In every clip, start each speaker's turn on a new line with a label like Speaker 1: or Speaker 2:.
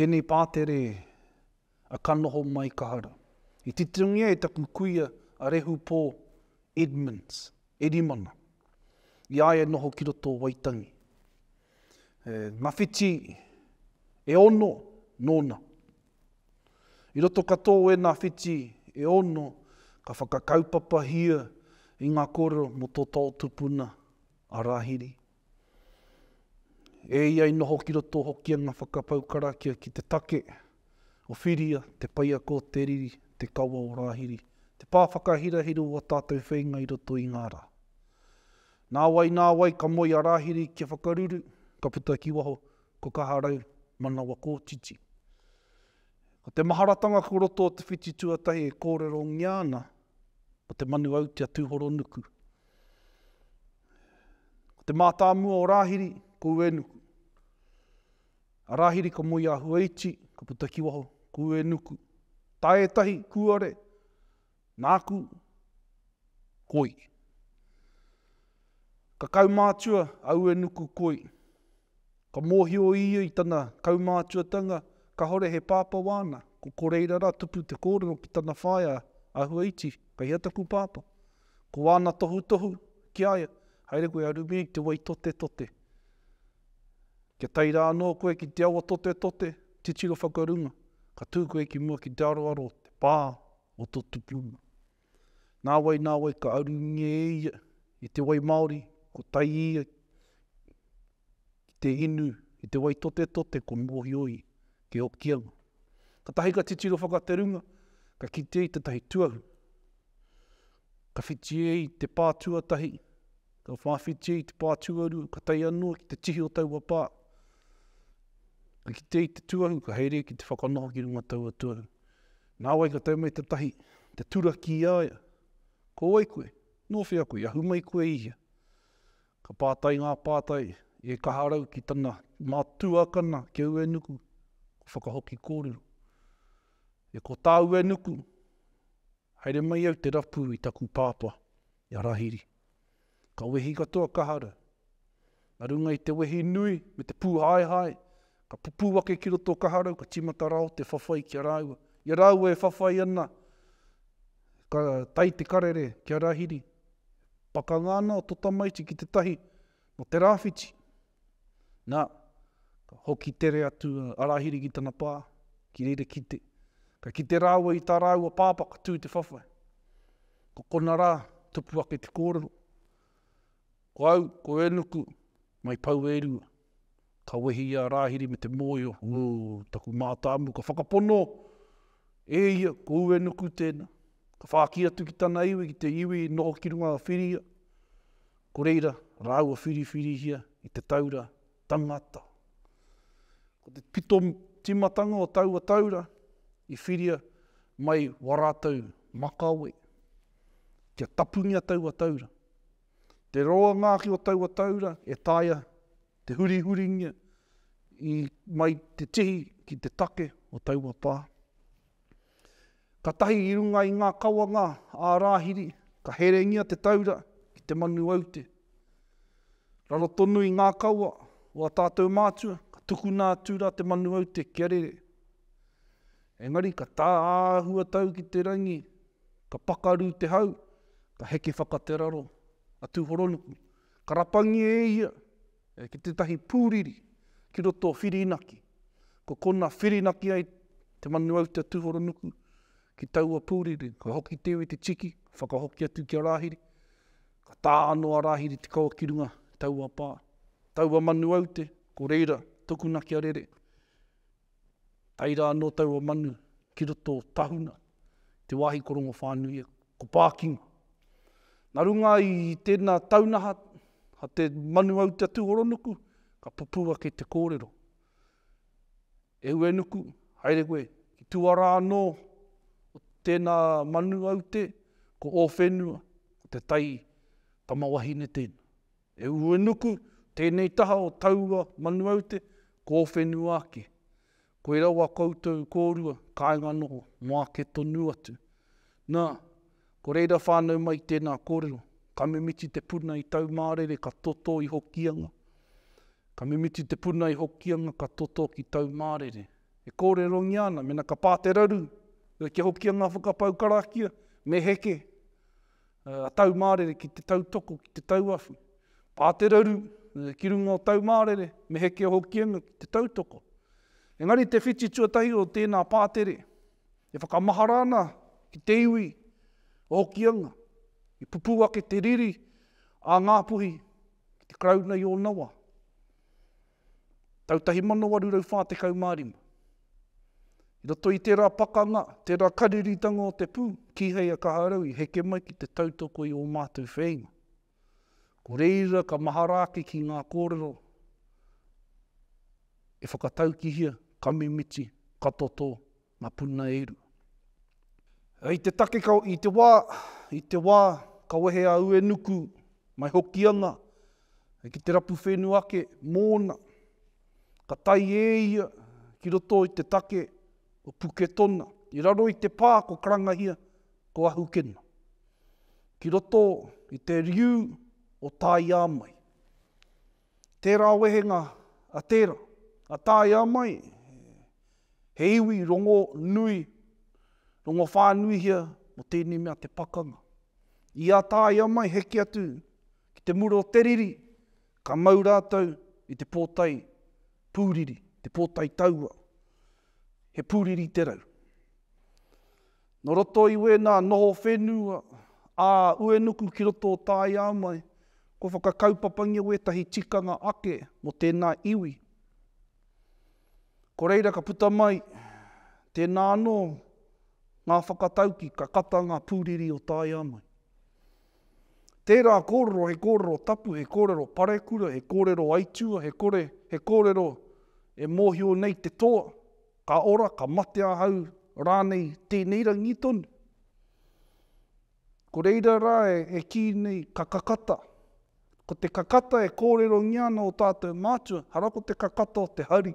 Speaker 1: Tēnei pātere a Ka noho mai ka hara. I titongia e taku kuia a Rehu Pō Edmunds, Erimana, i a ia noho ki roto o Waitangi. He mawhiti e ono nōna. I roto katoa o ēnā whiti e ono ka whakakaupapahia i ngā kōrero mō tō taotupuna a Rāhiri. E ia i noho ki roto hoki ana whakapau karakia ki te take o Whiria, te paiako o te riri, te kawa o Rāhiri, te pā whakahirahira o ō tātou wheinga i roto i ngā rā. Nā wai, nā wai ka moe a Rāhiri kia whakaruru, ka puta ki waho, ko Kaharau, manawa kōtiti. Ko te maharatanga ko roto o te whiti tuatahi e kōrerongia ana, ko te manu autia tūhoronuku. Ko te mātāmua o Rāhiri, ko Uenuku. A Rāhiri ka moe i a Huaiti, ka puta ki waho, ko Uenuku. Tā ētahi, kūare, nāku, koi. Ka kaumātua a Uenuku koi. Ka mōhio ia i tana kaumātuatanga kāore he pāpā wāna, ko Koreira rā tupu te kōrero ki tana whaea a Huaiti, Kei hea taku pāpā? Ko wāna tohutohu ki a ia, Haere koe a Rumie i te wai totetote. Kia tae rā anō koe ki te awa totetote, titiro whakarunga, ka tū koe ki mua ki te aroaro o te pā o tō tupuna. Nāwai, nāwai ka arungia e ia i te wai māori, ko tai ia ki te inu i te wai totetote ko mōhio i Te Hokianga. Katahi ka titiro whakaterunga, ka kitea i tētahi tuahu. Ka whiti e i te pā tuatahi, ka whāwhiti e i te pā tuarua, ka tai anō ki te tihi o taua pā. Ka kitea i te tuahu, ka haere ki te whakanoho ki runga taua tuahu. Nāwai ka tau mai te tahi, te turaki i a ia, Ko wai koe? Nō whea koe? I ahu mai koe i hea? Ka pātai ngā pātai e Kaharau ki tana mā tuakana ki a Uenuku, ko Whakahoki kōrero. E ko tā Uenuku, Haere mai au te rapu i taku pāpā, I a Rahiri. Ka wehi katoa ka haru. Na runga i te wehi nui me te pūhaehae, ka pupū ake ki roto o Kaharau, ka tīmata rāo te whawhai ki a rāua. I a rāua e whawhai ana, ka tae te karere ki a Rahiri. Pakanga ana o to tamaiti ki te tahi, no te rāwhiti. Na, ka hoki tere atu a Arahiri ki tana pa, ki reira kite. Ka kite raua i ta raua papa ka tu i te whawhai. Ko kona ra, tupu ake te korero, Ko au, ko Enuku, mai Pauerua. Ka wehi i a Arahiri me te moio, Ū, taku matamu, ka whakapono e ia ko Uenuku tena. Ka whāki atu ki tana iwi, ki te iwi i noho ki runga a Whiria. Ko reira, rāua whiriwhirihia i te taura tangata. Ko te pito timatanga o taua taura i whiria mai wa ratou makawe. Kia tapungia taua taura. Te roa ngaki o taua taura e taea te hurihuringia i mai te tihi ki te take o taua pa. Katahi i runga i ngā kawanga ā Rāhiri ka herengia te taura ki te manu aute. Raro tonu i ngā kawa o a tātou mātua ka tukuna atu rā te manu aute kia rere. Engari ka tā āhua tau ki te rangi ka pakaru te hau ka heke whaka te raro a Tūhoronuku ka rapangia e ia E ki tētahi pūriri ki roto o Whirinaki. Ko konā whirinaki ai te manu au te tūhoronuku ki taua pūriri. Ka hoki te iwi te tiki, ka whakahoki atu ki a Rāhiri, ka tā anō a Rāhiri te kawa ki runga taua pā. Taua manu aute, ko reira tokuna kia rere. Tae rā anō taua manu ki roto o Tahuna, te wāhi ko Rongowhānui, ko Pākinga. Nā runga i tēnā taunaha a te manu au te Tūhoronuku, ka pupū ake te kōrero. Ehuenuku, haere koe, ki tua rā anō o tēnā manu au te, ko ō whenua, ko te tai tamawahine tēnā. E Uenuku, tēnei taha o taua manu aute, ko ō whenua ake. Koirā wā koutou kōrua kāinga noho mō ake tonu atu. Nā, ko reira whānau mai tēnā kōrero, ka mimiti te puna i Taumārere ka totō i Hokianga, ka mimiti te puna i Hokianga ka totō ki Taumārere. E kōrerongia ana, mena ka pā te raru, kia Hokianga whakapau karakia, me heke. Taumārere ki te tautoko, ki te tauawhi. Pā te raru, ki runga o Taumārere, me heke o Hokianga ki te tautoko. Engari te whiti tuatahi o tēnā pātere, e whakamahara ana ki te iwi o Hokianga, i pupū ake te riri a Ngā Puhi ki te Karauna i ōna wā. tau 1845. I roto i tērā pakanga, tērā kariritanga o te pū, kīhei a Kaharau i heke mai ki te tautoko i ō mātou whēinga. Ko reira ka mahara ake ki ngā kōrero e whakataukihia, ka mimiti, ka totō, Nga puna e uru. Hei te take ka i te wa, i te wa, ka wehe a Uenuku mai Hokianga, hei ki te rapu whenu ake mona. Ka tai e ia ki roto i te take o Puketona, i raro i te pa ko Karangahia, ko Ahukena. Ki roto i te riu o Taiamai. Tērā wehenga a tērā, a tāia mai he iwi rongonui, rongowhānuihia mō tēnei mea te pakanga. I a tāia mai heke atu ki te mura o te riri, ka mau rātou i te pōtae pūriri, te pōtae taua, he pūriri te rau. Nō roto i wēnā noho whenua ā Uenuku ki roto o Tāiāmai, kua whakakaupapangia wētahi tikanga ake mō tēnā iwi. Ko reira ka puta mai tēnā anō ngā whakatauki ka kata ngā pūriri o Tāiāmai. Tērā kōrero he kōrero tapu, he kōrero parekura, he kōrero aituā, he kore, he kōrero e mōhio nei te toa, Ka ora, ka mate ahau rānei tēnei rangi tonu? Ko reira rā e kī nei ka kakata. Ko te kakata e kōrerongia ana ō tātou mātua, hara ko te kakata o te hari,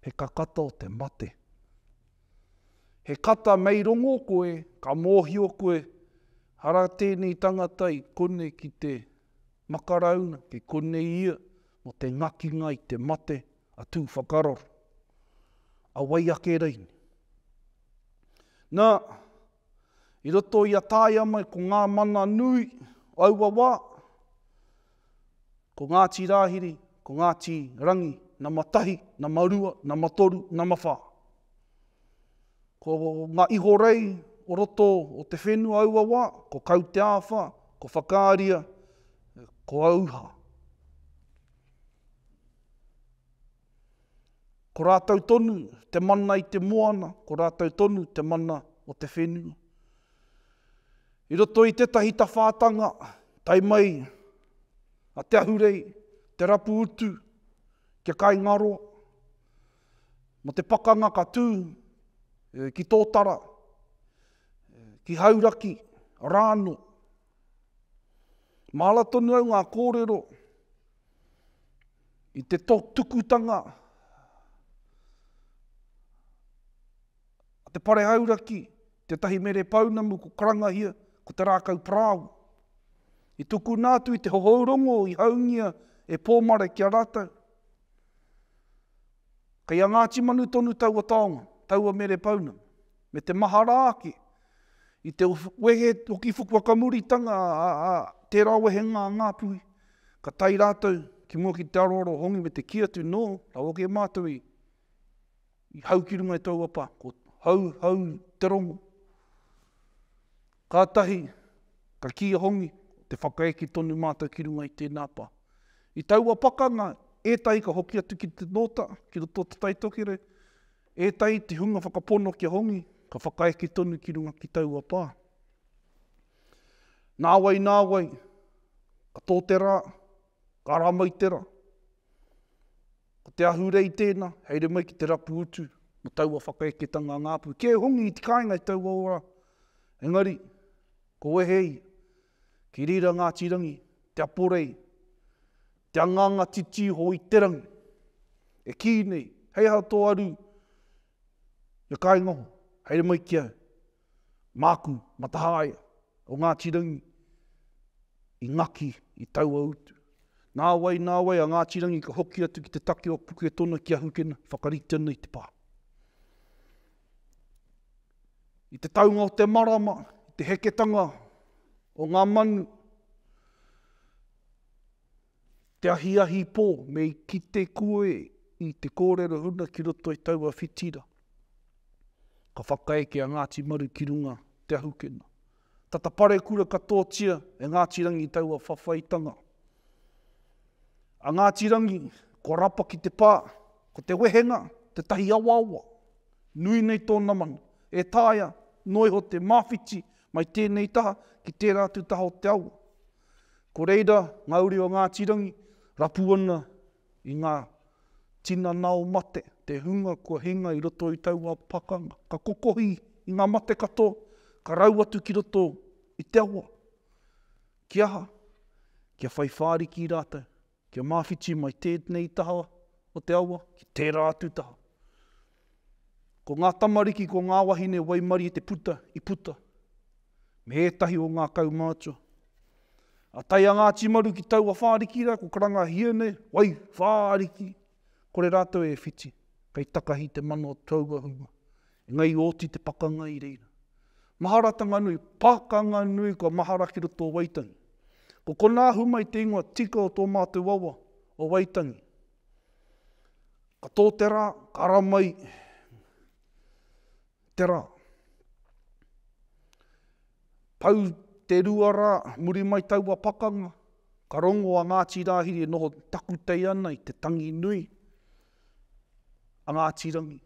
Speaker 1: he kakata o te mate. He kata mei rongo koe, ka mōhio koe, hara tēnei tangata i konei ki te makarauna, ki konei ia, mō te ngakinga i te mate, a Tū Whakararo, a wai ake rei nei. Na, i roto i a taea mai ko ngā mana nui o aua wā, ko Ngāti Rāhiri, ko Ngāti Rangi, nama tahi, nama rua, nama toru, nama whā. Ko ngā ihorei o roto o te whenua aua wā, ko Kauteāwha, ko Whakaaria, ko Auha. Ko rātou tonu te mana i te moana, ko rātou tonu te mana o te whenua. I roto i tētahi tawhātanga, tae mai a Te Ahurei, te rapu utu, kia kaingaroa, mō te pakanga ka tū ki Tōtara, ki Hauraki, rānō. Māra tonu au ngā kōrero i te tukutanga a te pare auraki, tētahi mere pounamu ko Karangahia, ko te rākau parāoa. I tukuna atu i te hohou rongo i haungia e Pōmare ki a rātou. Kei a Ngāti Manu tonu taua taonga, taua mere pounamu. me te mahara ake, i te wehe hoki fukuakamuritanga a tērā wehenga a Ngā Puhi, ka tae rātou ki mua ki te aroaro o Hongi me te kī atu, Nō, rawa ake mātou i hau ki runga i tōua pā, ko hau, hau te rongo. Kātahi ka kī a Hongi, te whakaeke tonu mātou ki runga i tēnā pā. I taua pakanga, ētahi ka hoki atu ki te Nōta, ki roto o Te Taitokerau, Ētahi te hunga whakapono kia hongi, ka whakaeke tonu ki runga ki taua pā. Nāwai, nāwai, ka tō te rā, ka ara mai te rā. Ko te ahurei tēnā, haere mai ki te rapu utu, mō taua whakaeketanga ngāpū. Kē hongi i te kāinga i taua ora, engari, ko wehe ia, Ki reira Ngāti Rangi, Te Aporei, Te Anganga Titi Hōiterangi, e kī nei, Hei aha tō aru i a kāinga hou, haere mai ki a māku Matahaea o Ngāti Rangi i ngaki i taua utu. Nā wai, nā wai a Ngāti Rangi ka hoki atu ki te take o Puketona ki a Hukena, whakarite ana i te pā. I te taunga o te marama, i te heketanga o ngā manu, te ahiahi pō, me i kite koe i te kōrero huna ki roto i taua whitira. Ka whakaeke a Ngāti Maru ki runga te ahukena. Tata parekura katoatia e Ngāti Rangi taua whawhaitanga. A Ngāti Rangi, kua rapa ki te pā, ko te wehenga, tētahi awaawa, nui nei tōna mana, e taea noa iho te māwhiti mai tēnei taha ki tērā atu taha o te awa. Ko reira ngā uri o Ngāti Rangi, rapu ana i ngā tinana o mate, te hunga kua hinga i roto i taua pakanga, ka kokohi i ngā mate katoa, ka rau atu ki roto i te awa. Ki aha? Kia whai whāriki rātou, kia māwhiti mai tēnei taha o te awa ki tērā atu taha. Ko ngā tamariki, ko ngā wahine waimarie te puta i puta me ētahi o ngā kaumātua. A tae a Ngāti Maru ki taua whāriki rā, ko karanga hiene, wai, whāriki, kore rātou e whiti, kei takahi te mano taua hunga. Engā i oti te pakanga i reira. Maharatanga nui, pakanga nui kua mahara ki roto o Waitangi. Ko konā humai te ingoa tika o tō mātou awa, o Waitangi. Ka tō te rā, ka ara mai te rā. Pau te rua rā, muri mai taua pakanga, ka rongo a Ngāti Rāhiri e noho takutei ana i te tangi nui a Ngāti Rangi,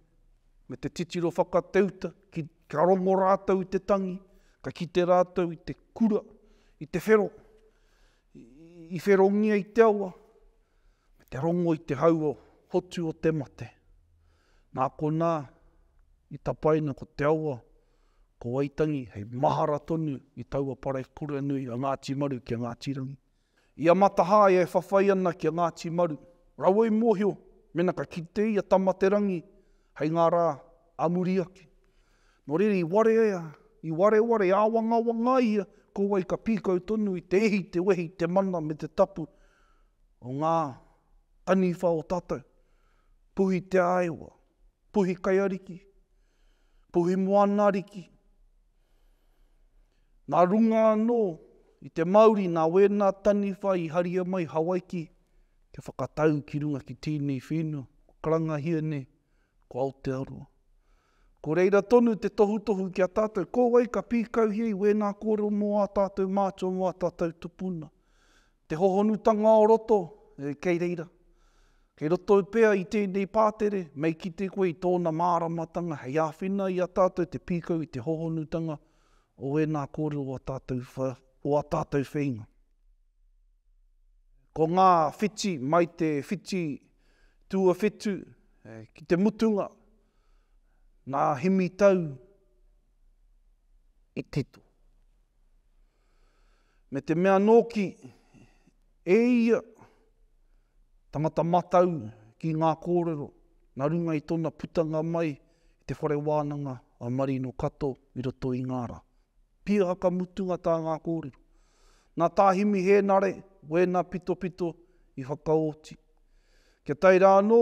Speaker 1: me te titiro whakateuta, ka rongo rātou i te tangi, ka kite rātou i te kura, i te whero. I wherongia i te awa, me te rongo i te hau o hotu o te mate. Nā konā, i tapaina ko te awa, ko Waitangi hei mahara tonu i taua parekura nui a Ngāti Maru ki a Ngāti Rangi. I a Matahae e whawhai ana ki a Ngāti Maru, raua i mōhio mena ka kite ia Tamaterangi hei ngā rā a muri ake. Nō reira i warea, i wareware, i āwangawangaia ko wai ka pīkau tonu i te ihi, te wehi, te mana me te tapu o ngā taniwha o tātou, Puhi Te Āewa, Puhi Kaiariki, Puhi Moana Ariki. Nā runga anō i te mauri nā wēnā taniwha i haria mai Hawaiki kia whakatau ki runga ki tēnei whenua, ko Karangahia nei, ko Aotearoa. Ko reira tonu te tohutohu ki a tātou, ko wai ka pīkauhia i wēnā kōrero mō ā tātou mātua, mō ā tātou tupuna. Te hohonutanga o roto, kei reira. Kei roto pea i tēnei pātere, mei kite koe i tōna māramatanga hei āwhina i a tātou te pīkau i te hohonutanga o wēnā kōrero o ā tātou wheinga. Ko ngā whiti, mai te whiti tuawhitu ki te mutunga, Ngā hemi tau i tito. Me te mea nōki, e ia, tangata matau ki ngā kōrero na runga i tona putanga mai i te whare wānanga a Marino Kato i roto i ngā ra. Pia haka mutunga tā ngā kōrero. Nā Tā Himi Hēnare wēna pitopito i whakaoti. Kia tae rā anō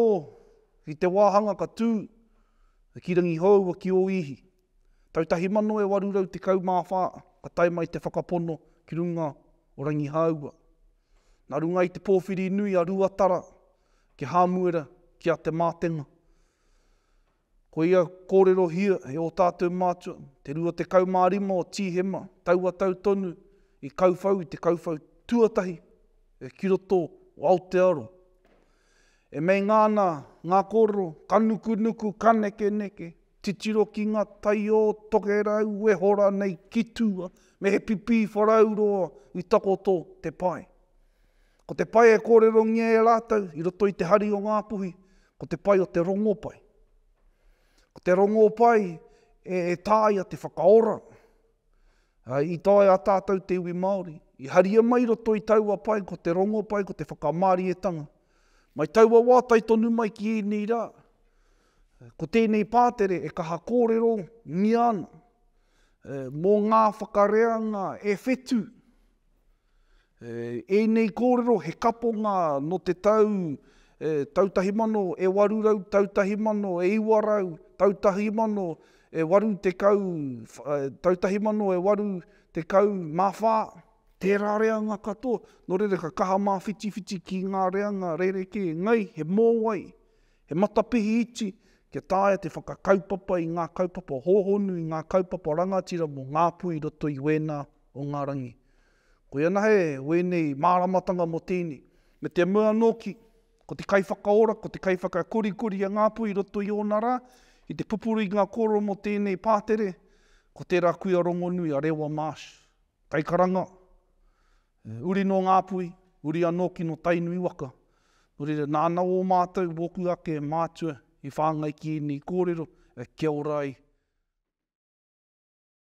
Speaker 1: I te wāhanga ka tū ki Rangihōua ki Ōihi. Tau tahi mano e waru rau tekau mā whā ka tae mai te whakapono ki runga o Rangihāua. Nā runga i te pōwhiri nui a Ruatara ki Hāmuera ki a Te Mātenga. Ko ia kōrerohia e ō tātou mātua, te 25 o Tīhema taua tau tonu i kauwhau i te kauwhau tuatahi ki roto o Aotearoa. E meinga ana ngā kōrero, ka nukunuku, ka nekeneke, titiro ki ngā taiō tokerau e hora nei ki tua, me he pipī wharau roa i takoto te pae. Ko te pae e kōrerongia e rātou i roto i te hari o Ngāpuhi, ko te pae o te rongopai. Ko te rongopai e tāia te whakaora, I tae a tātou te iwi Māori, i haria mai i roto i taua pae ko te rongopai, ko te whakamārietanga. Mai taua wā tae tonu mai ki ēnei rā, ko tēnei pātere e kaha kōrerongia ana mō ngā whakareanga e whetū. Ēnei kōrero he kaponga nō te tau tau tahi mano e waru rau, tau tahi mano e iwa rau, tau tahi mano e waru tekau, tau tahi mano e waru tekau mā whā. Tērā reanga katoa, nō reira ka kaha māwhitiwhiti ki ngā reanga rerekē ngai, he mōwai, he matapihi iti kia taea te whakakaupapa i ngā kaupapa hōhonu, i ngā kaupapa rangatira mō ngā pū i roto i wēnā o ngā rangi. Koia anahe wēnei māramatanga mō tēnei. Me te mea nōki, ko te kaiwhakaora, ko te kaiwhakakorikori a Ngāpuhi i roto i ōna rā, ki te pupuru i ngā kōrero mō tēnei pātere, ko tērā kuia rongonui a Rewa Marsh, kaikaranga, uri nō Ngāpuhi, uri anō ki nō Tainui waka. Nō reira, nāna ō mātou, wōku ake mātua i whāngai ki ēnei kōrero, kia ora ai.